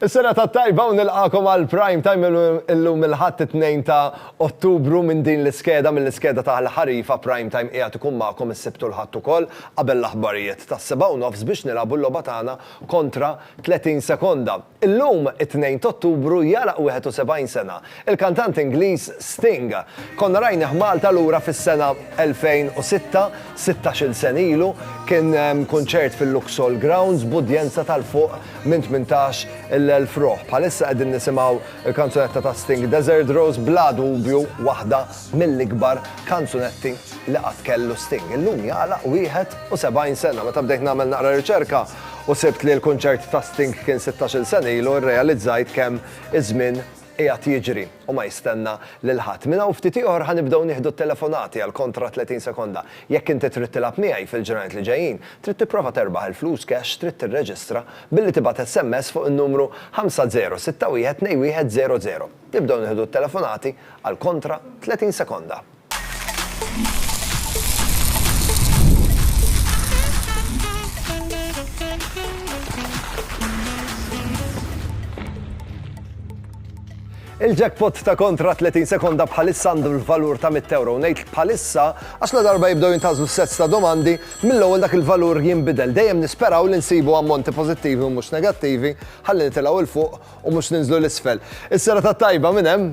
Is-serata t-tajba u nilqagħkom għal Prime Time illum il-Ħadd it-Tnejn ta' Ottubru minn din l-iskeda, mill-iskeda ta' l-ħarifa Prime Time qiegħed ikun magħkom is-Sibt u l-Ħadd ukoll qabel l-aħbarijiet tas-sebgħa u nofs biex nilagħbu l-logħba tagħna kontra 30 sekonda. Illum it-Tnejn t'Ottubru jagħlaq 71 sena Il-kantant Ingliż Sting. Konna rajnih Malta lura fis-sena 2006, sittax-il sena ilu, kien hemm kunċert fil-Luxol Grounds b'udjenza tal fuq minn tmintax il elf ruħ. Bħalissa qegħdin nisimgħu l-kanzunetta ta' Sting Desert Rose bla dubju waħda mill-ikbar kanzunetti li qatt kellu Sting. Illum jagħlaq 71 sena. Meta bdejt nagħmel naqra riċerka u sibt li l-kunċert ta' Sting kien sittax-il sena ilu rrealizzajt kemm iż-żmien qiegħed jiġri u ma jistenna lil ħadd. Minn hawn ftit ieħor ħa nibdew nieħdu t-telefonati għal kontra 30 sekonda. Jekk inti trid tilgħab miegħi fil-ġranet li ġejjin, trid tipprova terbaħ il-flus cash trid tirreġistra billi tibgħat SMS fuq in-numru 50612100. Nibdew nieħdu t-telefonati għal kontra 30 sekonda. Il-jackpot ta' kontra 30 sekonda bħalissa għandu l-valur ta' 100 euro. Nejt bħalissa, għax la darba jibdew jintazlu sets ta' domandi, mill-ewwel dak il-valur jinbidel. Dejjem nisperaw li nsibu ammonti pozittivi u mhux negattivi, ħalli nitilgħu il fuq u mhux ninżlu l-isfel. Is-sera ta' tajba minn hemm.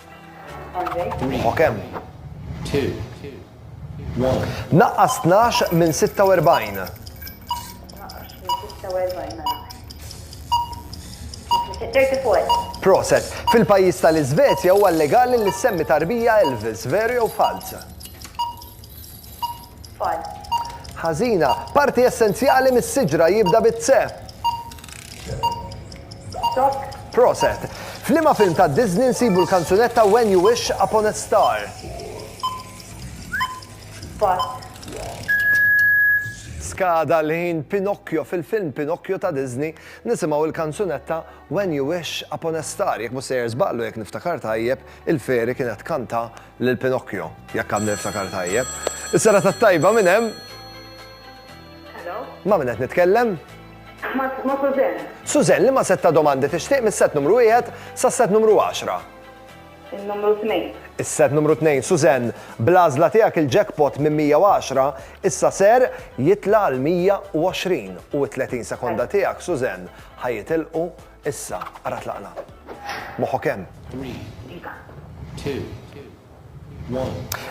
Ruħok hemm. Naqqas 12 minn 46. Proset, fil-pajjiż tal-Iżvezja huwa legali li semmi tarbija Elvis, veru jew falz? Tfal. Ħażina. Parti essenzjali mis-siġra jibda bi tse. Stokk. Proset. F'liema film ta' Disney nsibu l-kanzunetta When You Wish Upon a Star? Pass. Skada l-ħin Pinocchio fil-film Pinocchio ta' Disney nisimgħu l-kanzunetta When You Wish Upon a Star. Jekk mhux sejjer żball u jekk niftakar tajjeb, il-feri kienet kanta Lil Pinocchio, jekk għadni niftakar tajjeb. Is-sera tat-tajba minn hemm. Hello. Ma' min qed nitkellem? Ma' Suzen. Suzen li ma' setta domandi tixtieq mis-set numru wieħed sas-set numru 10. Il-numru 2. Is-set numru 2, Suzen, bl-għażla tiegħek il-jackpot minn 110 issa ser jitla' għal 120 u t-30 sekonda tiegħek, Suzen, ħajitilqu Issa, ara tlaqna. Moħħok hemm.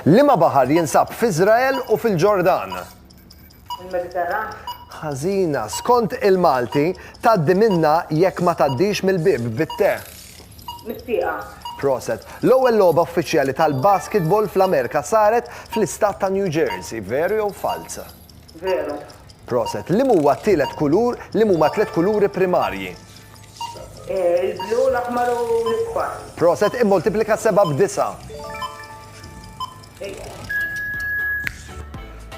Liema baħar jinsab f'Iżrael u fil-Ġordan? Il-Mediterran. Ħażina, skont il-Malti, tgħaddi minnha jekk ma tgħaddix mill-bieb bit-te. Mit-tieqa. Proset. L-ewwel logħba uffiċjali tal-basketball fl-Amerika saret fl-istat ta' New Jersey, veru jew falz? Veru. Proset. Liem huwa t-tielet kulur, liem huma t-tliet kuluri primarji? Il-blu, l-aħmar u l-isfar. Proset, immultiplika sebgħa b'disa'.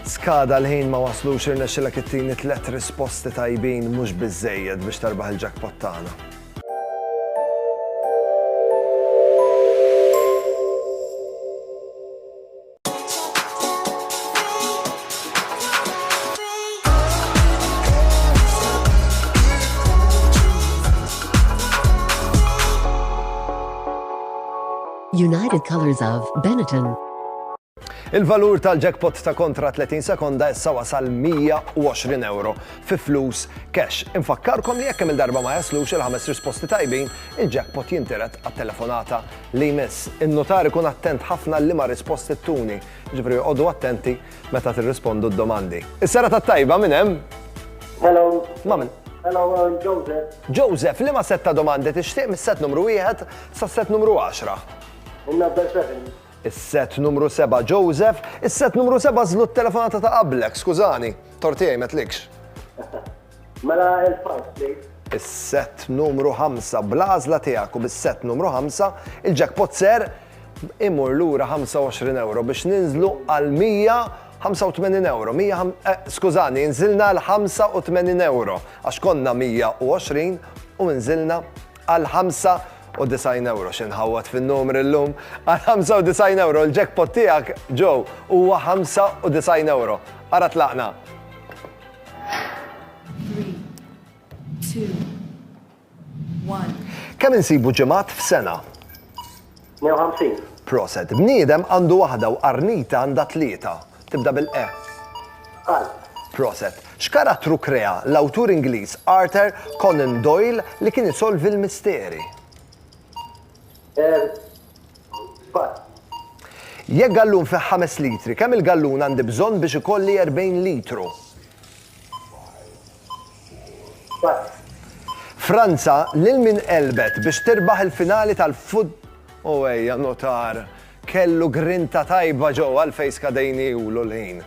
Skada l-ħin ma waslux irnexxilek ittini tliet risposti tajbin mhux biżżejjed biex terbaħ il-jackpot tagħna. United Colors of Benetton. Il-valur tal-jackpot ta' kontra 30 sekonda issa wasal 120 euro fi flus cash. Infakkarkom li jekk il-darba ma jaslux il-ħames risposti tajbin, il-jackpot jinteret għat-telefonata li jmiss. In-nutar ikun attent ħafna għal liema risposti ttuni, jiġifieri oqogħdu attenti meta tirrispondu d-domandi. Is-serata t-tajba minn hemm? Hello. Ma' min? Hello, I'm Joseph. Joseph, liema sett ta' domandi tixtieq mis-sett numru wieħed sas-sett numru għaxra? In-number seven. Is-sett numru seba', Joseph. Is-sett numru seba' żlu t-telefonata ta' qablek, skużani. Tort tiegħi m'għedtlikx. Mela il-five please. Is-sett numru ħamsa. Bl-għażla tiegħek u bis-sett numru ħamsa, il-jackpot ser imur lura 25 ewro biex ninżlu għal 185 ewro. Skużani, inżilna għal 85 ewro għax konna 120 u inżilna għal 95 ewro xi nħawwad fin-numri llum. Għal 95 ewro l-jackpot tiegħek ġew huwa 95 ewro. Ara tlaqna. Kemm insibu ġimgħat f'sena? 150. Proset. Bniedem għandu waħda u qarnita għandha tlieta. Tibda bil-E. Qalb. Proset. X'karattru krea l-awtur Ingliż Arthur Conan Doyle li kien isolvi l-misteri? Żball. Jekk gallun fih ħames litri, kemm il-gallun għandi bżonn biex ikolli 40 litru? Żball. Franza lil min għelbet biex tirbaħ il-finali tal-fut. O ejja notar, kellu grinta tajba ġewwa l-fejska dejniewlu l-ħin.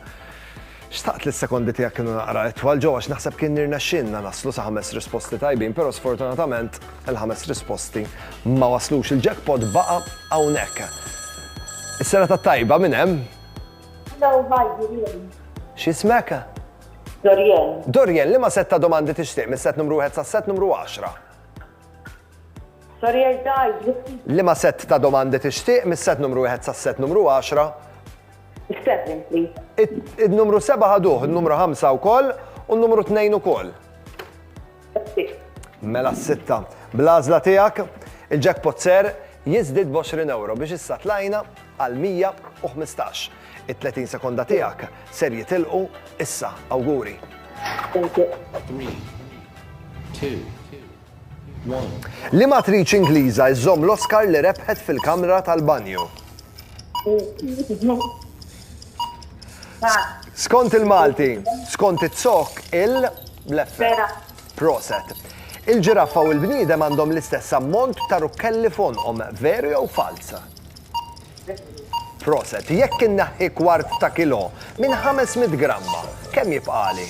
Xtaqt li s-sekondi tiegħek kienu naqra itwal, Joe, għax naħseb kien nirnexxielna naslu sa ħames risposti tajbin, però sfortunatament il-ħames risposti ma waslux. Il-jackpot baqa' hawnhekk. Is-sena tat-tajba minn hemm? Hello, hi, Dorian. X'ismek? Dorian. Dorian, li ma setta domandi tixtieq mis-set numru 1 sa set numru 10? Dorian, daj, Li ma set ta' domandi tixtieq mis-set numru 1 sa set numru 10? Seven, please. Il-numru seba ħaduh, il-numru ħamsa u koll, u il-numru tnejn u koll. Mela s-sitta. Blazla tijak, il-jackpot ser jizdid 20 euro biex issa tlajna għal 115. Il-30 sekonda tijak ser jitilqu issa, awguri. 3, 2, Liema attriċi Ingliża żżomm l-Oscar li rebħet fil-kamra tal-banju? Skont il-Malti, skont it-zokk il bleffer Proset. Il-ġiraffa u l-bniedem għandhom l-istess ammont ta' rukkelli f'għonqhom, veru jew falz? Proset, jekk inneħħi kwart ta' kilo minn 500 gramma, kemm jibqali?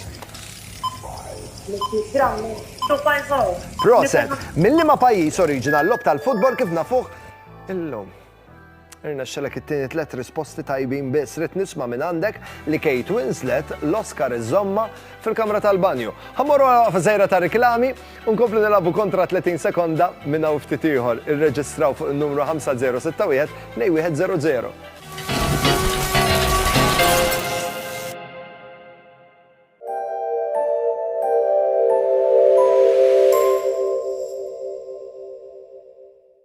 Proset, minn liema pajjiż oriġina l-logħob tal-futbol kif nafuh illum? Irna xelek it-tieni tlet risposti tajbin biss rid nisma' minn għandek li Kate Winslet l-Oscar iżomma fil-kamra tal-banju. Ħammorru għal għafżejra ta' riklami U nkomplu nilagħbu kontra 30 sekonda minn hawn ftit ieħor. Irreġistraw fuq in-numru 5061-2100.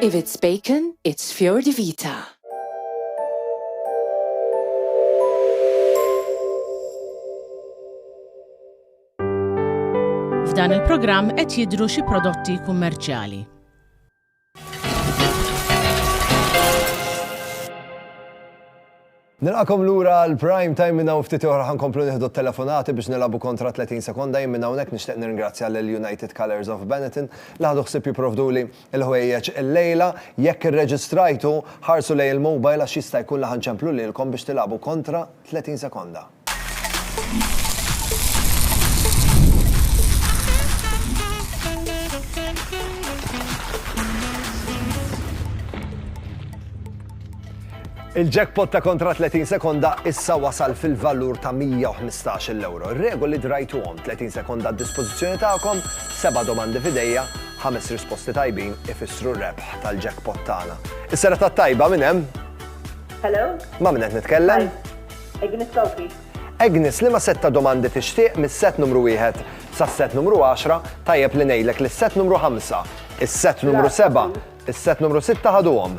If it's bacon, it's fior di vita. F'dan il-programm qed jidhru xi prodotti kummerċjali. Nilqagħkom lura għal Prime Time minn hawn ftit oħra ħa nkomplu nieħdu t-telefonati biex nilagħbu kontra 30 sekonda jien minn hawnhekk nixtieq nirringrazzja lil United Colours of Benetton li ħadu ħsieb jipprovduli l-ħwejjeġ illejla. Jekk irreġistrajtu, ħarsu lejn il-mobile għax jista' jkun li ħa nċemplu lilkom biex tilagħbu kontra 30 sekonda. Il-jackpot ta' kontra 30 sekonda issa wasal fil-valur ta' 115 l-euro. Regoli drajtuhom 30 sekonda d-dispożizzjoni tagħkom, seba' domandi fidejja, ħames risposti tajbin ifissru rebħ tal-jackpot tagħna. Is-sera ta' tajba minn hemm? Hello? Ma' minn qed nitkellem? Agnes Sofi. Agnes, li ma setta domandi tixtieq mis-set numru 1 sas-set numru 10, tajjeb li ngħidlek li s-set numru 5, is-set numru 7, is-set numru 6 ħaduhom.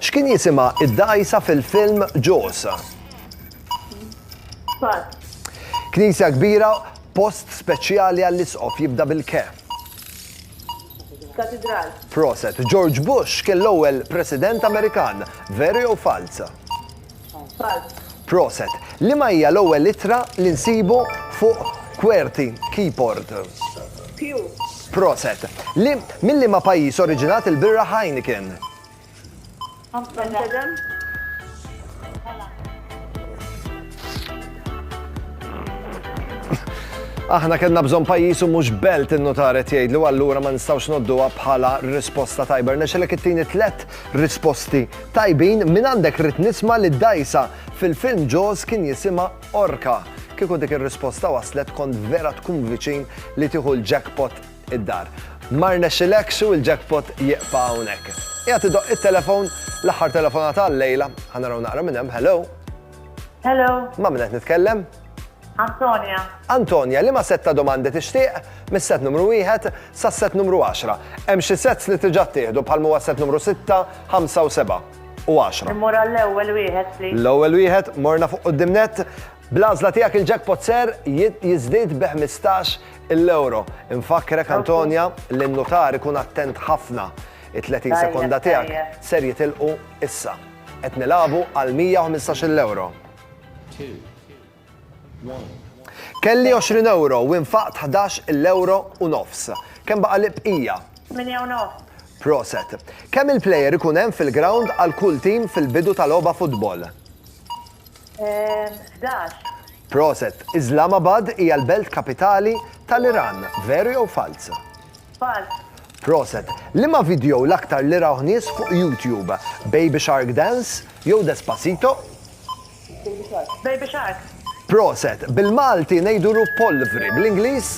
X'kien jisimha id-dgħajsa fil-film Jaws? Pass. Knisja kbira, post speċjali għall-isqof jibda bil-ke. Katidral. Proset. George Bush kien l-ewwel President Amerikan. Veri jew falz? Proset! Liema hija l-ewwel ittra li nsibu fuq Qwerty Keyport? Proset! Minn liema pajjiż oriġinat il-birra Heineken? Aħna kellna bżonn pajjiż u mhux belt in-nutar qed jgħidlu allura ma nistgħux ngħodduha bħala risposta tajba. Rnexxilek ittini tlett Risposti tajbin, minn għandek ridt nisma' li d-dgħajsa fil-film Jaws kien jisimha orka. Kieku dik ir-risposta waslet kont vera tkun viċin li tieħu l-jackpot id-dar. Ma rnexxilekx u l-jackpot jieqfa' hawnhekk. Qiegħed idoqq it-telefon, l-aħħar telefonata għal-lejla, ħa naraw naqra minn hemm, hello? Hello. Ma' minnet nitkellem? Antonia. Antonia, li ma set ta' domandi tixtieq mis-set numru 1 sa' set numru 10. Hemm xi sets li tiġa ttieħdu bħal huwa set numru 6, 5 u 7 u 10. Immur għall-ewwel wieħed, please. L-ewwel wieħed morna fuq quddiem net. Bl-għażla tiegħek il-jackpot ser jiżdied bi 15 il-euro. Infakkrek Antonia li n-nutar ikun attent ħafna. It-30 sekonda tiegħek ser jitilqu issa. Qed nilagħbu għal 115-il ewro. Kelli 20 ewro u nfaqt ħdax il-ewro u nofs. Kemm baqa' li bqija? Tmienja u nofs. Proset. Kemm il-plejer ikun hemm fil-grawnd għal kull tim fil-bidu ta' logħba futbol? 11. Proset. Islamabad hija l-belt kapitali tal-Iran. Veru jew falz? Falz. Proset. Liema vidjow l-aktar li rawh nies fuq YouTube? Baby Shark Dance jew Despacito? Baby Shark. Baby Shark. Proset. Bil-Malti ngħidu ruppolvri. Bl-Ingliż?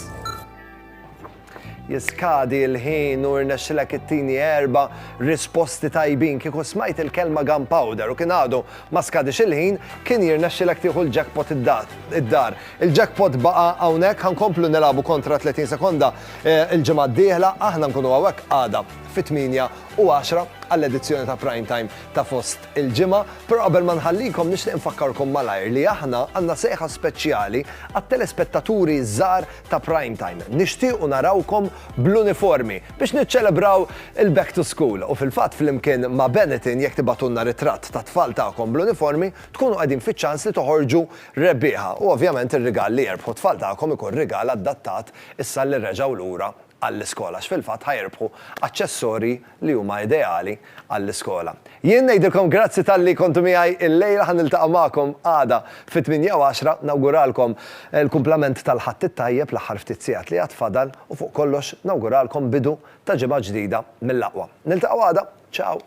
Jiskadi l-ħin u rnexxilek ittini erba' risposti tajbin. Kieku smajt il-kelma gunpowder u kien għadu ma skadiex il-ħin, kien jirnexxilek tieħu l-jackpot id-dar. Il-jackpot baqa' hawnhekk, ħa nkomplu nilagħbu kontra 30 sekonda l-ġimgħa d-dieħla, aħna nkunu hawnhekk għada fit-8:10 għall-edizzjoni ta' Prime Time ta' fost il-ġimgħa, però qabel ma nħallikom nixtieq infakkarkom malajr li aħna għandna sejħa speċjali għat-telespettaturi ż-żgħar ta' Prime Time. Nixtiequ narawkom bl-uniformi biex niċċelebraw il-back to school u fil-fatt flimkien ma' Benetton jekk tibagħtulna ritratt tat-tfal tagħkom bl-uniformi tkunu qegħdin fiċ-ċans li toħorġu rebbieħa u ovvjament ir-rigal li jerbħu t-tfal tagħkom ikun rigal adattat issa li reġgħu lura għall-iskola għax fil-fatt ħa jirbħu aċċessorji li huma ideali għall-iskola. Jien ngħidilkom grazzi talli kontu miegħi llejla ħa niltaqa' magħkom għada fit-tmienja u għaxra, nawguralkom l-kumplament tal-Ħadd it-tajjeb l-aħħar ftit sigħat li għad fadal u fuq kollox nawguralkom bidu ta' ġimgħa ġdida mill-aqwa. Niltaqgħu għada, ciao!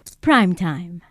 F'Prime Time.